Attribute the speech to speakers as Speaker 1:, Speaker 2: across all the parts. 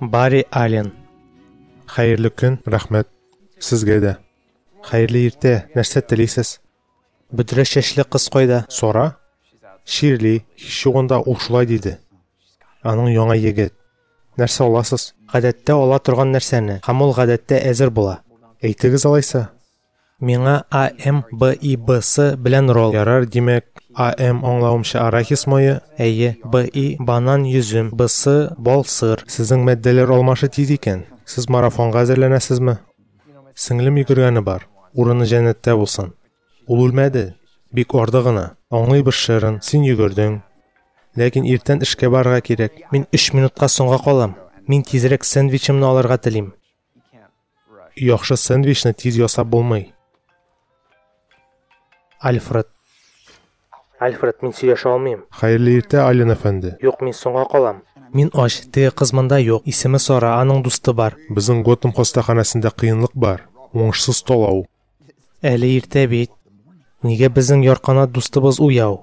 Speaker 1: Барри Аллен. Хәерле
Speaker 2: көн, рәхмәт. Сезгә дә. Хәерле иртә. Нәрсә телисез? Бөдрә
Speaker 1: чәчле кыз кайда? Сора.
Speaker 2: Ширли, һич югында ул шулай диде. Аның яңа егет. Нәрсә аласыз? Гадәттә ала торган
Speaker 1: нәрсәне, һәм ул гадәттә әзер була. Әйтегез алайса.
Speaker 2: Миңа
Speaker 1: АМ БИБ-сы белән ролл ярар, димәк,
Speaker 2: АМ аңлавымча арахис мое, әйе, БИ
Speaker 1: банан, йөзем, БСы бал, сыр. Сезнең матдәләр
Speaker 2: алмашы тиз икән. Сез марафонга әзерләнәсезме? Сеңлем йөгергәне бар, урыны җәннәттә булсын. Ул үлмәде, бик арды гына. Аңлыйбыз, Шерон, син йөгердең. Ләкин иртән эшкә барырга кирәк. Мин өч минутка
Speaker 1: соңга калам. Мин тизрәк сэндвичымны алырга телим.
Speaker 2: Яхшы сэндвичны тиз ясап булмый.
Speaker 1: Альфред. Альфред, мин сөйләшә алмыйм. Хәерле иртә, Ален
Speaker 2: әфәнде. Юк, мин соңга калам.
Speaker 1: Мин ач, теге кыз монда юк. Исеме Сара, аның дусты бар. Безнең Готэм
Speaker 2: хастаханәсендә кыенлык бар. Уңышсыз талау. Әле
Speaker 1: иртә бит. Нигә безнең ярканат дустыбыз уяу?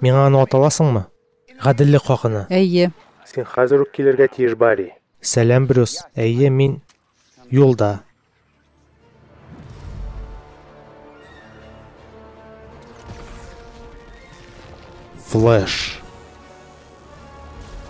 Speaker 1: Миңа аны аталасыңмы? Гаделлек хакына. Әйе. Син
Speaker 3: хәзер үк
Speaker 2: килергә тиеш, Барри. Сәлам, Брюс.
Speaker 1: Әйе, мин юлда.
Speaker 2: Флэш.